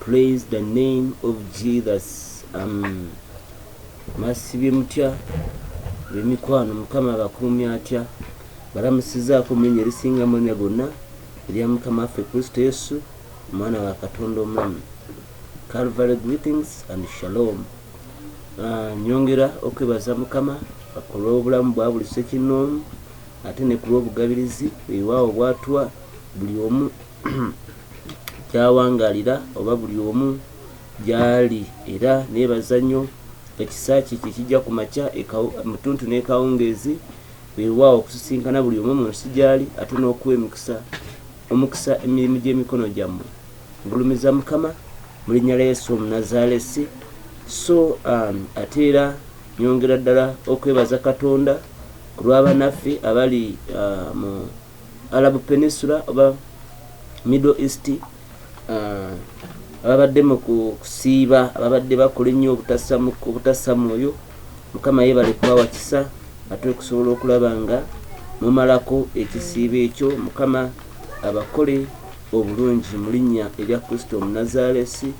Praise the name of Jesus am masibye mutya bemikwano mukama abakuumi atya balamusizaako mulinya erisinga mulinya gonna erya mukama waffe kristo yesu omwana wa katonda omulamu calvary greetings and shalom ah, nyongera okwebaza mukama ku lw'obulamu bwa buli sekinoomu ate ne ku lw'obugabirizi ewawo bwatwa buli omu gy'awangalira oba buli omu gy'ali era neebaza nnyo ekisa kye kye kijja ku makya mu ttuntu n'ekawungeezi weewaawo okusisinkana buli omu mu nsi gy'ali ate n'okuwa emikisa omukisa emirimu gy'emikono gyammwe ngulumiza mukama mu linnya lya yesu omunazaalesi so um, ate era nyongera ddala okwebaza katonda ku lw'abanaffe abali uh, mu Arab Peninsula oba Middle East uh, ababadde mu kusiiba ababadde bakola ennyo obutasamu oyo mukama yebale kubawa kisa ate okusobola okulaba nga mumalako ekisiibo ekyo mukama abakole obulungi mu linnya erya kristo omunazaalesi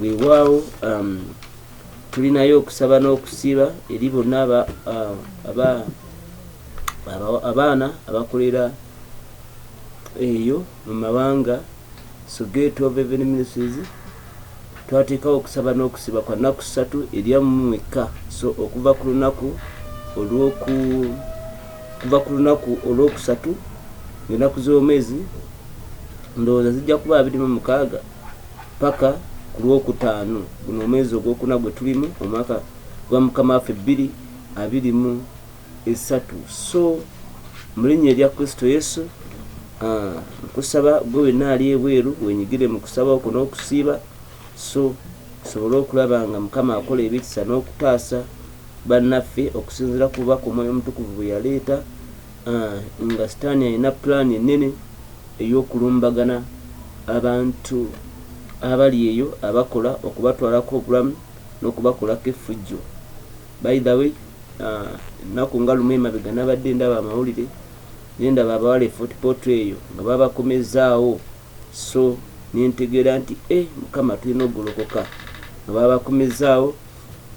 weewaawo um, tulinayo okusaba n'okusiiba eri bonna aba uh, abaana abakolera eyo mu mawanga sogate of even ministries twateekawo okusaba n'okusiba kwa nnaku ssatu eryammwekka so okuva ku lunaku olwoku kuva ku lunaku olwokusatu ngaenaku z'omwezi ndowooza zijja kuba abiri mu mukaaga paka ku lwokutaano guno omwezi ogwokuna gwe tulimu omwaka gwa mukama waffe bbiri abiri mu esatu so mulinya erya kristo yesu ah, nkusaba gwe wenna ali ebweru wenyigire mu kusaba okwo n'okusiiba so tusobole okulaba nga mukama akola ebikisa n'okutaasa bannaffe okusinzira ku bubaka omwoyo omutukuvu bwe yaleeta ah, nga sitaani alina pulaani ennene ey'okulumbagana abantu abali eyo abakola okubatwalako obulamu n'okubakolako effujjo By the way ennaku nga lumu emabega nabadde ndaba amawulire nendaba abawala e Fort Portal eyo nga babakomezzaawo so nentegeera nti e mukama tulina okugolokoka nga babakomezzaawo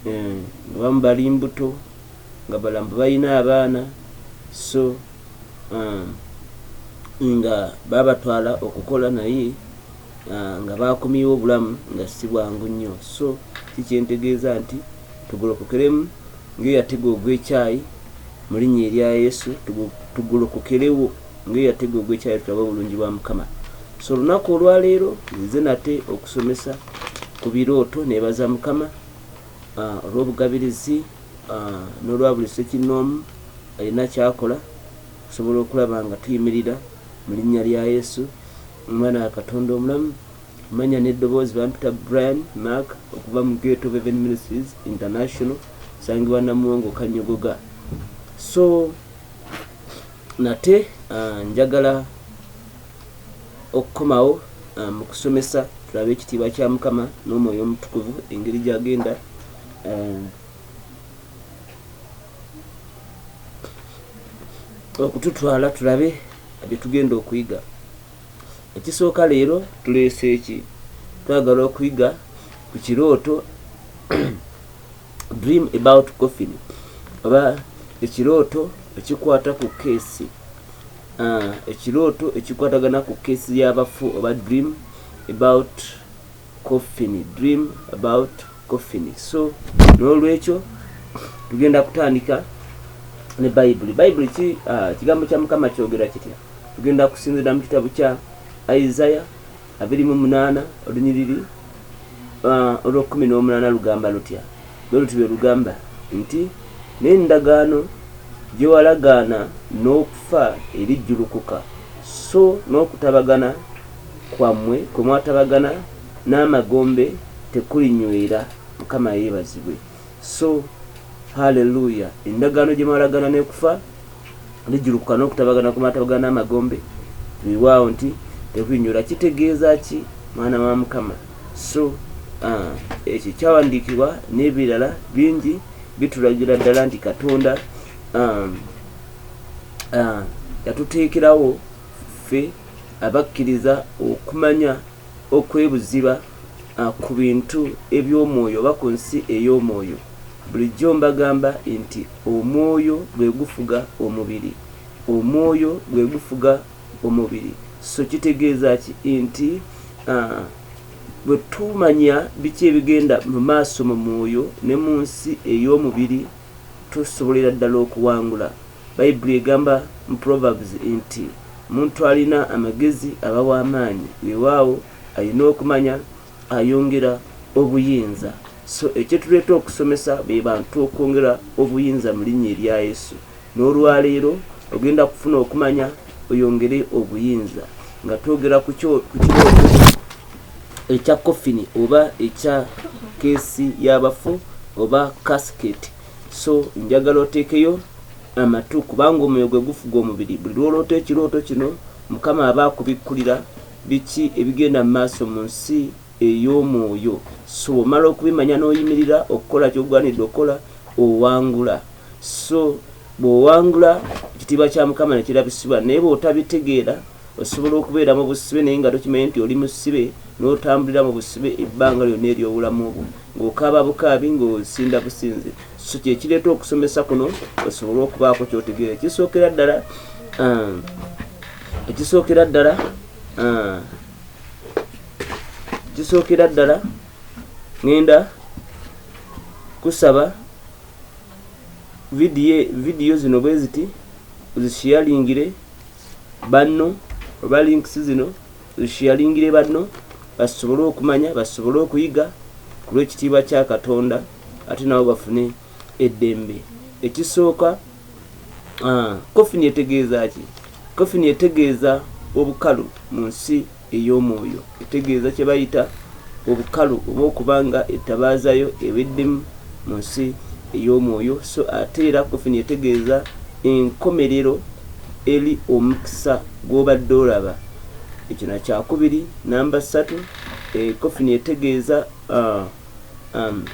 eh, nga bamu bali mbuto nga balamu balina abaana so um, nga babatwala okukola naye ah, nga baakumyewo obulamu nga si bwangu nnyo so si kyentegeeza nti tugolokokeremu ng'eyo yatega ogw'ekyayi mu linnya erya yesu tugolokokerewo ng'eyo yatega ogw'ekyayi tulabe obulungi bwa mukama so olunaku olwaleero nze nate okusomesa ku birooto nebaza mukama ah, olw'obugabirizi ah, n'olwa buli sekinnoomu alina kyakola okusobola okulaba nga tuyimirira mu linnya lya yesu Omwana wa Katonda omulamu. Amannya n'eddoboozi, Bampita Brian Mark okuva mu Great Hope Heaven Ministries International, nsangibwa Namuwongo Kanyogoga. So nate uh, njagala okukomawo uh, mu kusomesa tulabe ekitiibwa kya Mukama n'omwoyo omutukuvu engeri gyagenda uh, okututwala tulabe bye tugenda okuyiga. Ekisooka leero tuleese ki? Twagala okuyiga ku kirooto dream about coffin oba ekirooto ekikwata ku keesi ah, ekirooto ekikwatagana ku keesi y'abafu oba dream about coffin dream about coffin so nolwekyo tugenda kutandika ne bayibuli bayibuli ki uh, kigambo kya mukama kyogera kitya tugenda kusinzira mu kitabu kya isaya abiri mu munaana olunyiriri uh, olwokumi n'omunaana lugamba lutya lwe luti lwe lugamba nti n'endagaano gye walagaana n'okufa erijjulukuka so n'okutabagana kwammwe kwe mwatabagana n'amagombe tekulinywera, Mukama yeebazibwe, so Hallelujah, endagaano gye mwalagaana n'ekufa lijjulukuka n'okutabagana kwe mwatabagana n'amagombe weewaawo nti tekulinywera. Kitegeeza ki mwana wa Mukama? So ah, ekyo kyawandiikibwa n'ebirala bingi bitulagira ddala nti Katonda ah, ah, yatuteekerawo ffe abakkiriza okumanya okw'ebuziba ku bintu eby'omwoyo oba ku nsi ey'omwoyo. Bulijjo mbagamba nti omwoyo gwe gufuga omubiri. Omwoyo gwe gufuga omubiri. So kitegeeza ki? Nti, ah, bwe tumanya biki ebigenda mu maaso mu mwoyo ne mu nsi ey'omubiri, tusobolera ddala okuwangula. Bayibuli egamba mu Proverbs nti, Omuntu alina amagezi aba wa maanyi. Weewaawo, alina okumanya ayongera obuyinza. So, ekyetuleeta okusomesa be bantu okwongera obuyinza mu linnya erya Yesu. N'olwaleero, ogenda kufuna okumanya oyongere obuyinza nga twogera ku kirooto ekya coffin oba ekya kesi yabafu oba casket so njagala otekeyo amatu kubanga omwoyo gwe gufuga omubiri buli lwoloota ekirooto kino mukama aba akubikkulira biki ebigenda mu maaso mu nsi ey'omwoyo so omala okubimanya n'oyimirira okukola kyogwanidde okukola owangula so bw'owangula ekitiibwa kya mukama nekirabisibwa naye bw'otabitegeera Osobola okubeera mu busibe naye nga tokimanye nti oli musibe, n'otambulira mu busibe ebbanga lyonna ery'obulamu bwo, ng'okaaba bukaabi, ng'osinda businzi. So kye kireeta okusomesa kuno osobole okubaako ky'otegeera. Ekisookera ddala, uh, ekisookera ddala, uh, ekisookera ddala ngenda kusaba vidiyo vidiyo zino bwe ziti ozishiyalingire banno oba links zino zishialingire banno basobole okumanya basobole okuyiga kulwekitiibwa kya katonda ate nabo bafune eddembe ekisooka kofini ah, etegeeza ki kofini etegeeza obukalu mu nsi ey'omwoyo etegeeza kye bayita obukalu oba okuba nga ettabaaza yo eweddemu mu nsi ey'omwoyo, so ate era kofini etegeeza enkomerero eri omukisa gw'obadde olaba. Ekyo na kyakubiri. Namba ssatu, eh, kofini etegeeza uh, um,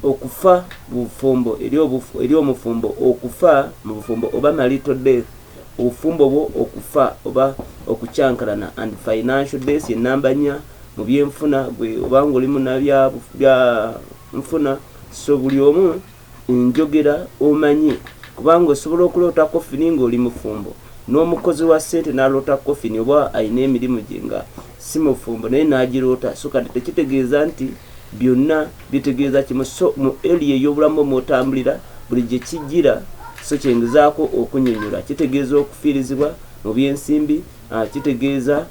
Okufa mu bufumbo eri omufumbo Okufa mu bufumbo oba marital death, obufumbo bwo okufa oba okukyankalana and financial death ye namba nya mu byenfuna gwe oba nga oli muna bya nfuna so buli omu enjogera omanyi kubanga osobola okuloota coffin nga oli mufumbo n'omukozi wa sente naloota coffin oba alina emirimu gye nga si mufumbo naye nagiroota so kati tekitegeeza nti Byonna bitegeeza kimu so mu area ey'obulamu mw'otambulira buli gye kijjira so kye ngezaako okunnyonnyola kitegeeza okufiirizibwa mu by'ensimbi, kitegeeza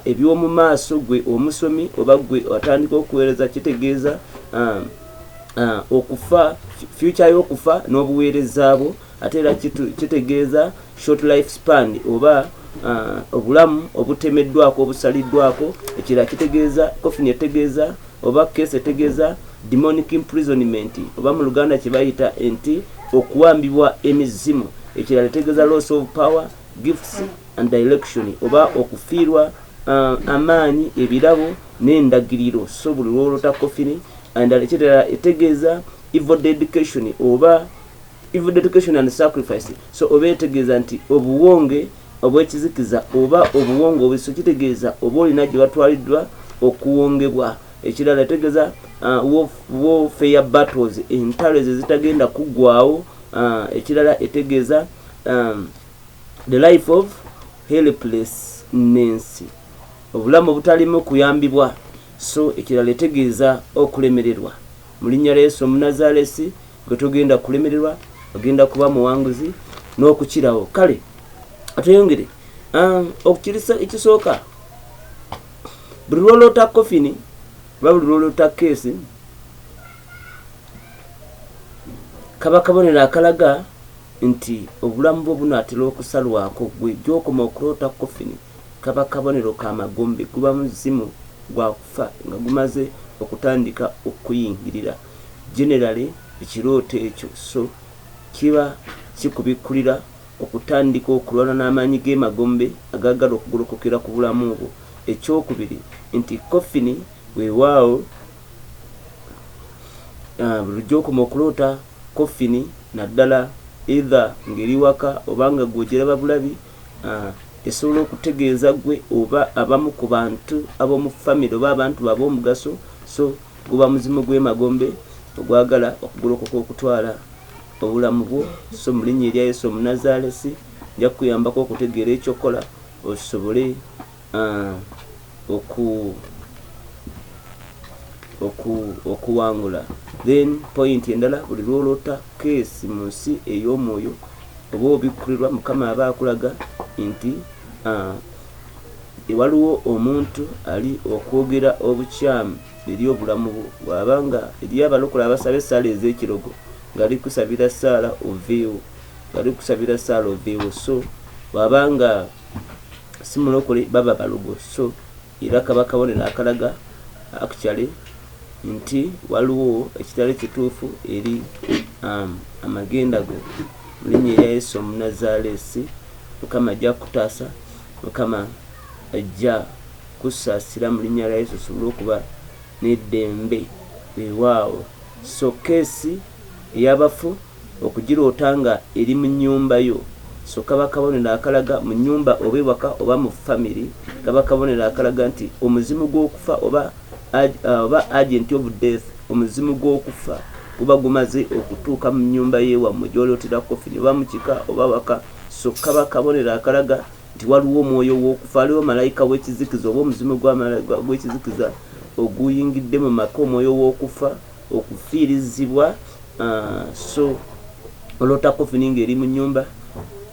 eby'omu maaso gwe omusomi oba gwe atandika okuweereza kitegeeza okufa future y'okufa n'obuweereza bwo. ate era kitegeeza short life span oba uh, obulamu obutemeddwako obusaliddwako ekirala kitegeeza coffin etegeeza oba case etegeeza demonic imprisonment oba mu luganda kye bayita nti okuwambibwa emizimu ekirala etegeeza loss of power gifts and direction oba okufiirwa uh, amaanyi ebirabo n'endagiriro so buli lwolota coffin and ekirala etegeeza evil dedication oba even dedication and sacrifice so oba etegeeza nti obuwonge obwekizikiza oba obuwonge obuso kitegeeza oba olina gye batwaliddwa okuwongebwa ekirala etegeeza uh, warfare battles entalo ezo ezitagenda kuggwawo uh, ekirala etegeeza um, the life of helpless nensi obulamu obutalimu kuyambibwa so ekirala etegeeza okulemererwa Mu linnya lya Yesu Omunazaalesi, ggwe togenda kulemererwa, ogenda kuba muwanguzi n'okukirawo. Kale atweyongere ah, okukirisa ekisooka. Buli lwoloota kofini oba buli lwoloota keesi, kaba kabonero akalaga nti obulamu bwo bunaatera okusalwako gwe gyokoma okuloota kofini Kaba kabonero ka magombe, guba muzimu gwa kufa nga gumaze okutandika okukuyingirira. Generally ekirooto ekyo so kiba kikubikkulira okutandika okulwana n'amaanyi g'emagombe agaagala okugolokokera ku bulamu bwo. Eky'okubiri nti coffin weewaawo buli lujja okoma okuloota coffin naddala either ng'eri waka oba nga gwe ogiraba bulabi Esobola okutegeeza ggwe oba abamu ku bantu ab'omu famire oba abantu bo ab'omugaso, so guba muzimu gw'emagombe ogwagala okugolokoka okutwala obulamu bwo. So mu linnya erya Yesu Omunazaalesi, nja kukuyambako okutegeera eky'okukola osobole. oku oku okuwangula then point endala buli lwolota case mu nsi ey'omwoyo oba obikkulirwa mukama aba akulaga nti uh, waliwo omuntu ali okwogera obukyamu eri obulamu bwo bwaba nga eri abalokola abasaba esaala ez'ekirogo ngali kusabira saala oveewo ngali kusabira saala oveewo so bwaba nga simulokole baba balogo so era kaba kabonero akalaga actually nti waliwo ekitali kituufu eri um, amagenda go mu linnya erya yesu omunazaaleesi mukama ajja kutaasa mukama ajja kusaasira mu linnya lya yesu osobole okuba n'eddembe weewaawo so keesi eyabafu Okugiroota nga eri mu nnyumba yo so kaba kabonero akalaga mu nnyumba oba ewaka oba mu family kaba kabonero akalaga nti omuzimu gw'okufa oba oba agent of death omuzimu gw'okufa guba gumaze okutuuka mu nnyumba y'ewammwe gy'olootera coffin oba mu kika oba waka so kaba kabonero akalaga nti waliwo omwoyo w'okufa aliwo malayika w'ekizikiza oba omuzimu gw'ekizikiza oguyingidde mu maka omwoyo w'okufa okufiirizibwa so oloota kofini ng'eri mu nnyumba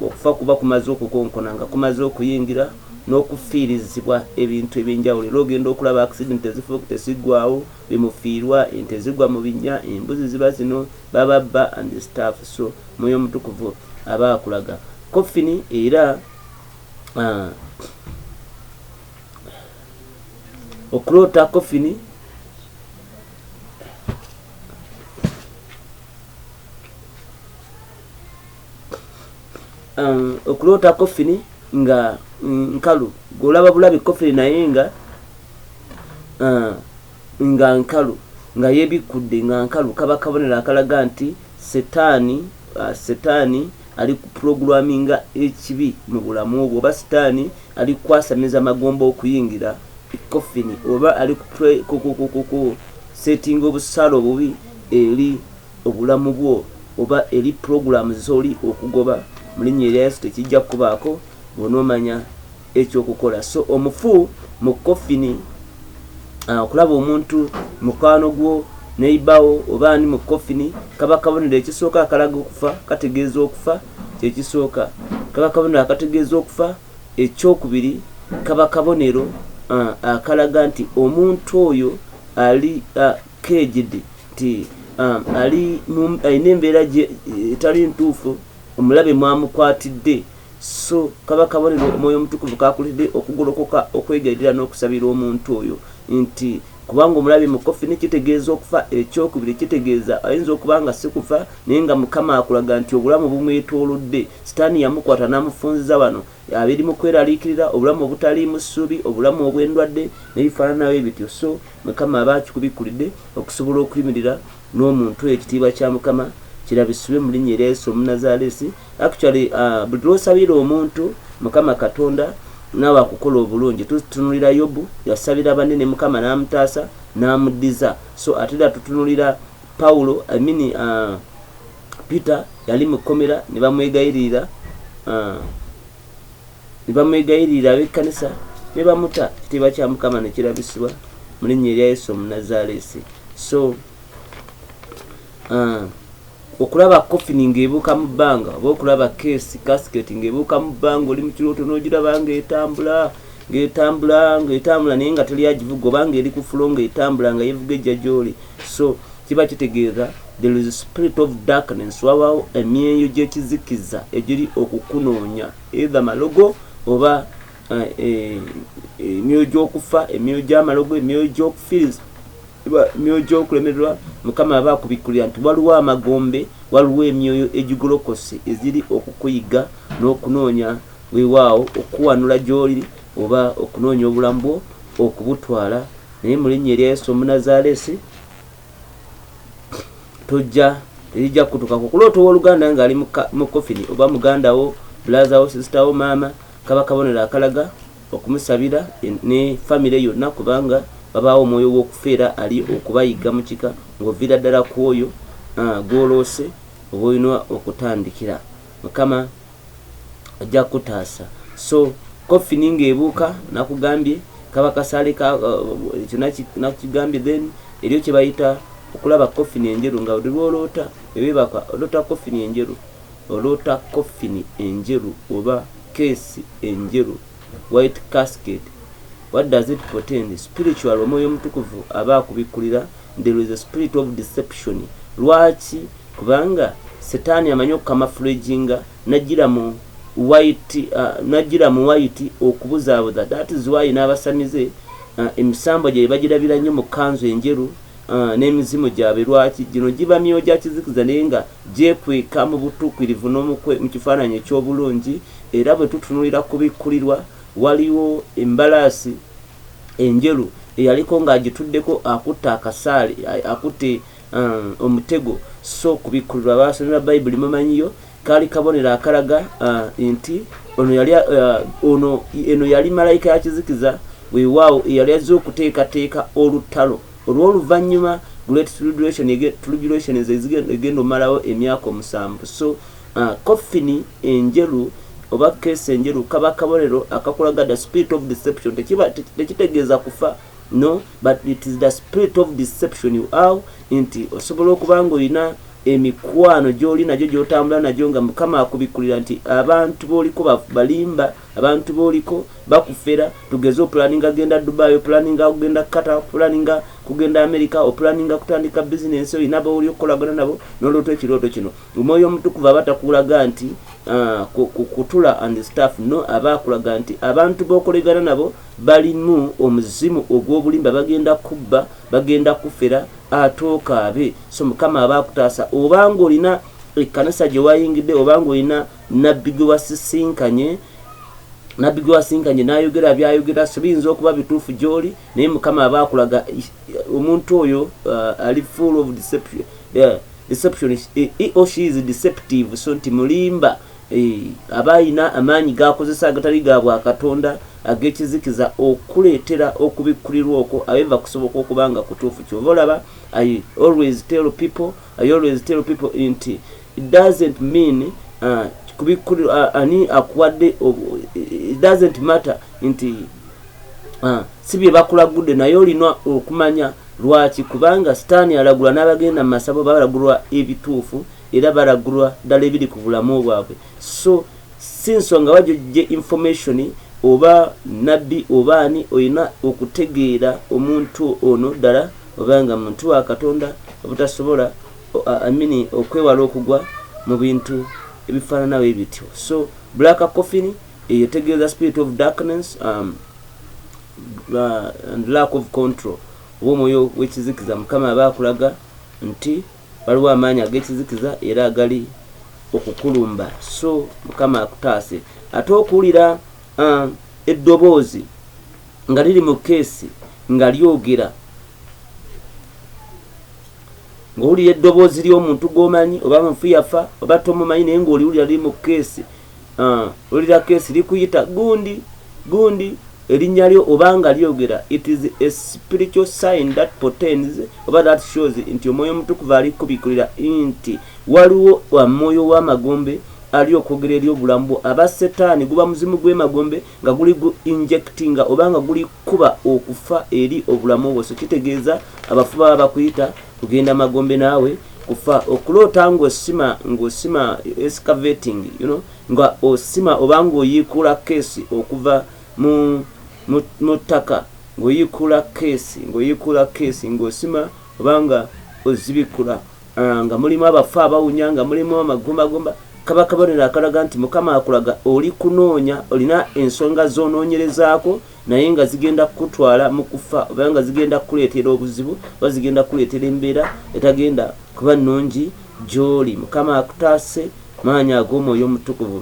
okufa kuba kumaze okukonkona nga kumaze okuyingira n'okufiirizibwa ebintu ebyenjawulo era ogenda okulaba accident ezifuuka tesiggwawo bimufiirwa ente zigwa mu binnya embuzi ziba zino bababba and staff so mwoyo omutukuvu aba akulaga kofini era ah, okuloota kofini um, okuloota kofini nga nkalu golaba bulabi kofini naye nga uh, nga nkalu nga yebikudde nga nkalu kaba kabonero akalaga nti Setaani, Setaani alikuprogramminga ekibi mu bulamu bwo, oba Setaani alikukwasamiza magombe okuyingira ekkofini, oba alikukuku setinga obusaale obubi eri obulamu bwo, oba eri program zoli okugoba, mu linnya erya Yesu tekijja kukubaako, bw'onoomanya. ekyokukola so omufu mu kofini ah, okulaba omuntu mukwano gwo neibawo oba ani mu kofini kaba kabonero ekisooka akalaga okufa kategeeza okufa kyekisooka kaba kabonero akategeeza okufa ekyokubiri kaba kabonero ah, akalaga nti omuntu oyo ali ah, kejidi nti um, ali alina embeera etali ntuufu omulabe mwamukwatidde Sso kaba kabonero Omwoyo Omutukuvu k'akuleetedde okugolokoka okwegayirira n'okusabira omuntu oyo, nti, Kubanga omulabe mukofi, ne kitegeeza okufa. Eky'okubiri, kitegeeza, ayinza okuba nga si kufa, naye nga Mukama akulaga nti obulamu bumwetoolodde. Sitaani yamukwata n'amufunziza wano. Abiri mu kweraliikirira, obulamu obutaliimu ssuubi, obulamu obw'endwadde, n'ebifaanana bwe bityo. Sso Mukama aba akikubikkulidde, okusobola okuyimirira. nomuntu oyo ekitiibwa kya mukama kirabisibwe mulinya erya yesu omunazalesi actually uh, buli lwosabira omuntu mukama katonda naawe akukola obulungi tutunulira yobu yasabira banne ne mukama n'amutaasa n'amuddiza so ate era tutunulira pawulo imini uh, peter yali mu kkomera ne bamwegayirira uh, ne bamwegayirira ab'ekkanisa ne bamuta ekitiibwa kya mukama ne kirabisibwa mu linnya erya yesu omunazaaleesi so uh, okulaba kofini ng'ebuuka mu bbanga oba okulaba keesi kasiketi ng'ebuuka mu bbanga oli mu kirooto n'ogiraba ng'etambula ngetambula ngetambula naye nga teli agivuga oba nga eri ku fulo ngetambula nga yevuga ejja gyoli so kiba kitegeeza there is spirit of darkness wabawo emyeyo gyekizikiza egiri okukunoonya eitha malogo oba eh, eh, emyoyo gyokufa emyoyo gyamalogo emyoyo gyokufiriza myoyo gy'okulemererwa mukama aba akubikkulira nti waliwo amagombe waliwo emyoyo egigolokose eziri okukuyigga n'okunoonya weewaawo okukuwanula gy'oli oba okunoonya obulamu bwo okubutwala naye mu linnya erya yesu omunazaalesi tojja terijja kukutuukako okuloota ow'oluganda ng'ali mu kofini oba muganda wo bulaza wo sisita wo maama kaba kabonero akalaga okumusabira ne famire yonna kubanga babaawo omwoyo w'okufa era ali okubayigga mu kika ng'oviira ddala ku oyo ah, gw'oloose oba olina okutandikira mukama ajja kutaasa so kofini ng'ebuuka nakugambye kaba kasaale nakigambye uh, then eriyo kye bayita okulaba kofini enjeru nga lwoloota ebebaka oloota kofini enjeru Oloota coffin enjeru oba case enjeru, white casket, what does it portend? Spiritual omwoyo omutukuvu aba akubikulira there is a spirit of deception lwaki kubanga setani amanyi okukamafulaginga najira mu white uh, najira mu white okubuzabuza that is why n'abasamize uh, emisambwa gye bagirabira nnyo mu kanzu enjeru Ah, n'emizimu gyabwe lwaki gino giba myoyo gya kizikiza naye nga gyekweka mu butuukirivu n'omukwe mu kifaananyi eky'obulungi era bwe tutunulira kubikkulirwa waliwo embalaasi enjeru eyaliko ng'agituddeko akutte akasaale akutte um, omutego so kubikkulirwa baasomera bayibuli mumanyiyo Kaali kabonero akalaga uh, nti ono yali uh, ono eno yali malayika ya kizikiza weewaawo eyali azze okuteekateeka olutalo olw'oluvannyuma great tribulation tribulation egenda omalawo emyaka omusanvu so uh, coffin enjeru oba keesi enjeru kaba kabonero akakulaga the spirit of deception tekitegeeza kufa no but it is the spirit of deception you are nti osobola okuba nga olina emikwano gyoli nagyo gyotambula nagyo nga mukama akubikulira nti abantu boliko balimba abantu boliko bakufera tugeze opulaninga genda dubai opulaninga kugenda kata opulaninga kugenda amerika opulaninga kutandika bizinensi olina bawuli okukolagana nabo noloota ekirooto kino omwoyo omutukuva aba takulaga nti ah, kutula and staff no aba akulaga nti abantu bokolegana nabo balimu omuzimu ogwobulimba bagenda kubba bagenda kufera ate okaabe so mukama aba akutaasa oba ng'olina ekkanisa gye wayingidde oba ng'olina nabbi gwe wasisinkanye nabbi gwe wasinkanye n'ayogera by'ayogera so biyinza okuba bituufu gy'oli naye mukama aba akulaga omuntu oyo uh, ali full of deception uh, deception he or she is deceptive so nti mulimba Eeh, aba alina amaanyi g'akozesa agatali ga bwa Katonda ag'ekizikiza okuleetera okubikkulirwa okwo, aever kusoboka okuba nga kutuufu. Ky'ova olaba I always tell people, I always tell people nti, it doesn't mean, ah, kubikkulirwa, ah, ani akuwadde obu, it doesn't matter nti, ah, si bye bakulagudde, naye olina okumanya lwaki, kubanga Sitaani alagula n'abagenda mu masabo balagulwa ebituufu. era balagulwa dala ebiri ku bulamu bwabwe so si nsonga wa gyojje information oba nabbi oba ani olina okutegeera omuntu ono dala obanga muntu wa katonda obutasobola amini okwewala okugwa mu bintu ebifaananawo ebityo so black coffin eyo tegeeza spirit of darkness um, uh, and lack of control oba omwoyo w'ekizikiza mukama aba akulaga nti Waliwo amaanyi ag'ekizikiza era agali okukulumba, so Mukama akutaase. Ate okuwulira uh, eddoboozi nga liri mu keesi nga lyogera ng'owulira eddoboozi ly'omuntu gw'omanyi oba mufu yafa oba tomumanyi naye ng'oliwulira liri mu keesi Ah, ulira kesi likuyita gundi gundi elinya lyo obanga lyogera it is a spiritual sign that portends oba that shows nti omwoyo omutukuvu ali kubikulira nti waliwo omwoyo wamagombe ali okwogera eri obulamu bwo aba setaani guba muzimu gwemagombe nga guli gu injectinga obanga guli kuba okufa eri obulamu bwo so kitegeeza abafu baba bakuyita Kugenda magombe naawe kufa okuloota ng'osima ng'osima excavating you know, nga osima oba ng'oyiikuula keesi okuva mu mu ttaka ng'oyiikuula keesi ng'oyiikuula keesi ng'osima oba nga ozibikula ah, nga mulimu abafu abawunya nga mulimu amagumbagumba kaba kabonero akalaga nti mukama akulaga oli kunoonya olina ensonga z'onoonyerezaako naye nga zigenda kukutwala mu kufa oba nga zigenda kukuleetera obuzibu oba zigenda kukuleetera embeera etagenda kuba nnungi gy'oli mukama akutaase maanyi ag'omwoyo omutukuvu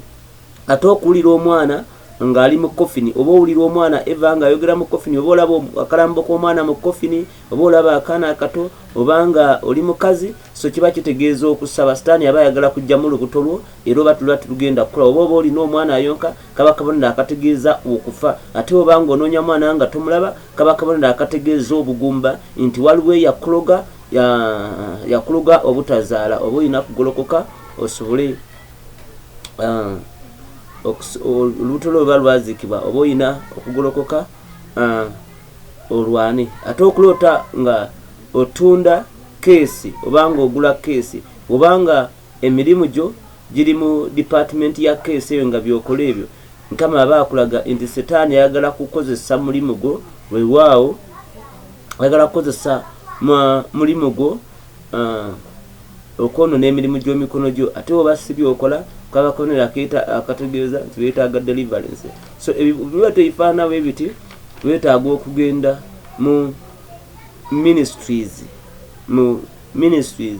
ate okuwulira omwana ng'ali mu kofini oba owulira omwana eva ng'ayogera mu kofini oba olaba akalambo k'omwana mu kofini oba olaba akaana akato oba nga oli mukazi so kiba kitegeeza okusaba sitaani aba ayagala kujjamu olubuto lwo era oba tulwa tulugenda kukula oba oba olina omwana ayonka kaba kabonero akategeeza okufa ate bwoba nga onoonya mwana nga tomulaba kaba kabonero akategeeza obugumba nti waliwo eyakuloga yakuloga obutazaala oba olina kugolokoka osobole ah, olubuto lwo luba lwazikibwa oba olina okugolokoka ah, olwane ate okuloota nga otunda keesi obanga ogula keesi obanga Emirimu gyo giri mu department ya case eyo nga byokola ebyo mukama aba akulaga inti setani ayagala kukozesa mulimu gwo wewaawo ayagala kukozesa mulimu gwo okwonona emirimu gy'omikono gyo ate oba si byokola kaba kabonero akategeeza nti weetaaga deliverance so biba teifaanawo ebiti weetaaga okugenda mu ministries mu ministries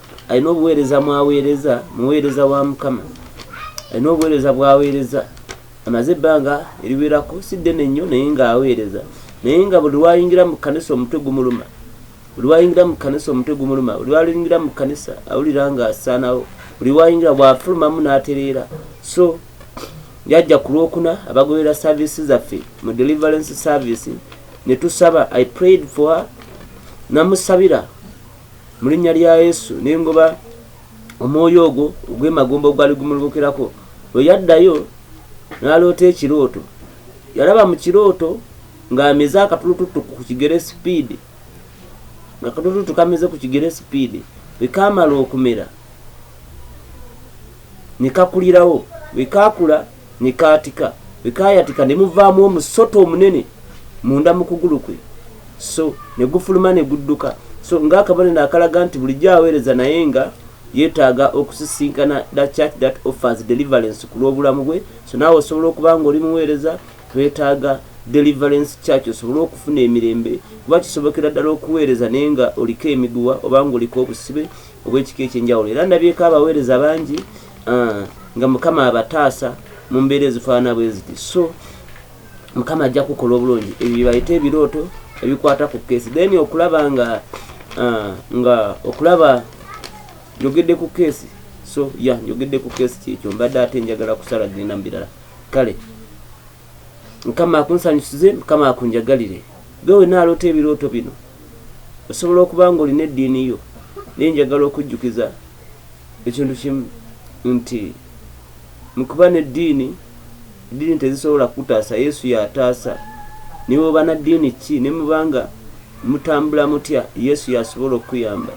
alina obuweereza mwaweereza muweereza wa mukama alina obuweereza bwaweereza amaze ebbanga eriwerako si ddene nnyo naye ng'aweereza naye nga buli lwayingira mu kanisa omutwe gumuluma buli wayingira mu kanisa omutwe gumuluma buli wayingira mu kanisa awulira ng'asaanawo buli wayingira bwafulumamu n'atereera so yajja ku lwokuna abagoberera saavisi zaffe mu deliverance service ne tusaba i prayed for her namusabira mu linnya lya yesu nengoba omwoyo ogwo ogwemagomba ogwali gumulubukirako lwe yaddayo n'aloota ekirooto yalaba mu kirooto ng'amize akatulututu ku kigere sipiidi nga katulututu kamize ku kigere sipiidi bwe kaamala okumera ne kakulirawo bwe kaakula ne kaatika bwe kaayatika ne muvaamu omusota omunene munda mu kugulu kwe so ne gufuluma ne gudduka so ng'akabonero akalaga nti bulijjo aweereza naye nga yeetaaga okusisinkana the church that offers deliverance ku lw'obulamu bwe so naawe osobola okuba nga oli muweereza twetaaga deliverance church osobole okufuna emirembe kuba kisobokera ddala okuweereza naye nga oliko emiguwa oba nga oliko obusibe obw'ekika ekyenjawulo era ndabyeko abaweereza bangi ah, nga mukama abataasa mu mbeera ezifaanana bwe ziti so mukama ajja kukola obulungi ebyo byebayita ebirooto ebikwata ku keesi then okulaba nga ah, nga okulaba njogedde ku keesi so ya njogedde ku keesi kyekyo mbadde ate njagala kusala genda mu birala kale mukama akunsanyusize mukama akunjagalire ge wena aloota ebirooto bino osobola okuba nga olina eddiini yo naye njagala okujjukiza ekintu kimu nti mukuba n'eddiini eddiini tezisobola kutaasa yesu yataasa naye oba na ddiini ki ne mubanga mutambula mutya yesu yasobola okukuyamba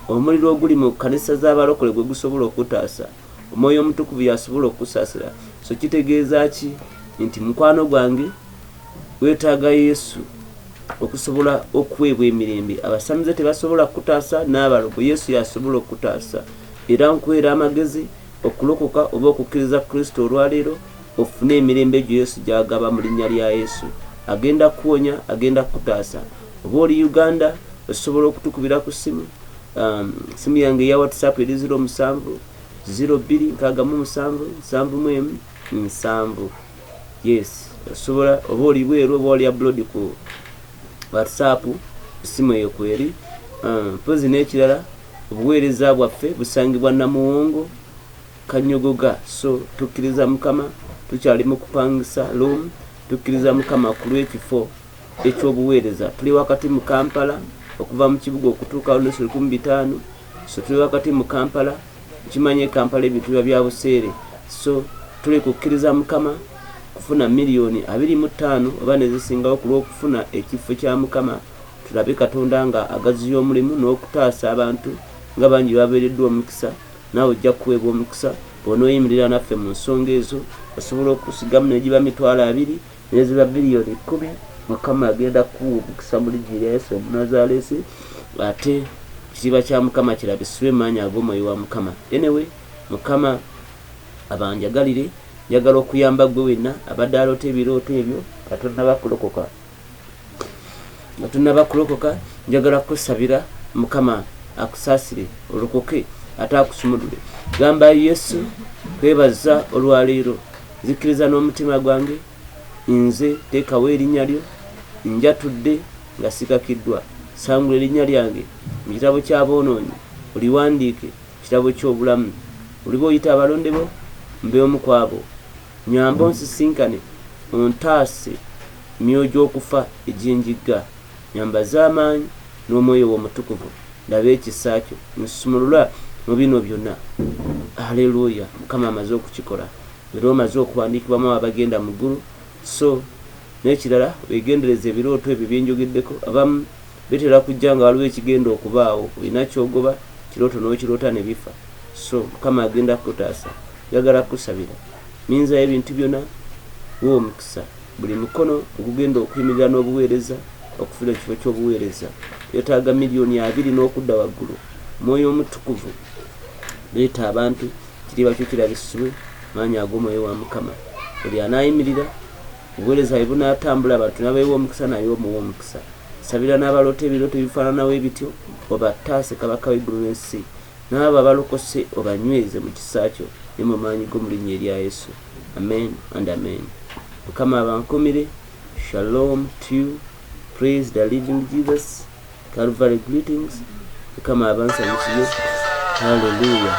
omuliro oguli mu kanisa z'abalokole gwe gusobola okutaasa omwoyo omutukuvu yasobola okusaasira so kitegeeza ki nti mukwano gwange wetaaga yesu okusobola okuweebwa emirembe abasamize tebasobola kukutaasa n'abalogo yesu yasobola okukutaasa era nkuweera amagezi okulokoka oba okukkiriza kristo olwaleero ofune emirembe egyo yesu gyagaba mu linnya lya yesu agenda kuwonya agenda kukutaasa oba oli uganda osobola okutukubira ku simu um, simu yange eya whatsapp eri ziro musanvu ziro bbiri nkagamu musanvu nsanvu mu emu nsanvu Yes, osobola oba oli bweru oba oli abroad ku WhatsApp essimu eyo kweri. Ah, mpozi n'ekirala obuweereza bwaffe busangibwa Namuwongo Kanyogoga, so tukkiriza Mukama, tukyali mu kupangisa room, tukkiriza Mukama ku lw'ekifo eky'obuweereza. Tuli wakati mu Kampala okuva mu kibuga okutuuka lunusu lukumi bitaano, so tuli wakati mu Kampala. Okimanyi e Kampala ebintu biba bya buseere so tuleke okukkiriza Mukama kufuna million abiri mu ttaano oba nezisingawo ku lw'okufuna ekiffo kya Mukama tulabe Katonda nga agaziya omulimu n'okutaasa abantu nga bangi babeereddwa omukisa naawe ojja kuweebwa omukisa bw'onooyimirira naffe mu nsonga ezo osobola okusigamu negiba mitwalo abiri Ezra biliyoni kkumi Mukama agenda kukuwa omukisa mu linnya erya Yesu Omunazaaleesi, ate ekitiibwa kya Mukama kirabisibwe mu maanyi ag'Omwoyo wa Mukama. Anyway, Mukama abanjagalire. Njagala okuyamba ggwe wenna abadde aloota ebirooto ebyo nga tonnaba kulokoka. Nga tonnaba kulokoka, njagala kukusabira Mukama akusaasire olokoke ate akusumulule. Gamba Yesu, kwebaza olwaleero. nzikkiriza n'omutima gwange nze teekawo erinnya lyo njatudde nga sikakiddwa sangula erinnya lyange mu kitabo ky'aboonoonyi oliwandiike kitabo ky'obulamu oliba oyita abalonde bo mbe omu ku abo nyamba onsisinkane ontaase myoyo gy'okufa egy'enjigga nyambaza amaanyi n'omwoyo w'omutukuvu ndaba ekisa kyo nsumulula mu bino byonna aleluya mukama amaze okukikola era omaze okuwandiikibwamu abagenda mu ggulu so n'ekirala wegendereza ebirooto ebyo byenjogeddeko abamu bitera kujja nga waliwo ekigenda okubaawo olina kyogoba kirooto n'okiroota ne bifa so mukama agenda kukutaasa njagala kukusabira minzayo ebintu byonna w'omukisa Buli mukono ogugenda okuyimirira n'obuweereza okufuna ekifo ky'obuweereza yetaaga miliyoni abiri n'okudda waggulu. Mwoyo Omutukuvu leeta abantu kiriba kyo kirabisibwe maanyi ag'omwoyo wa Mukama. Buli anaayimirira obuweereza bwe bunaatambula abantu nabeewa omukisa naye omuwa omukisa. Sabira n'abaloota ebirooto ebifaananawo ebityo obattaase Kabaka w'eggulu n'ensi n'abo abalokose obanyweze mu kisa kyo ne mu maanyi go mu linnya erya Yesu. Amen and amen mukama abankumire shalom to you praise the living Jesus Calvary greetings mukama abansanyukiye hallelujah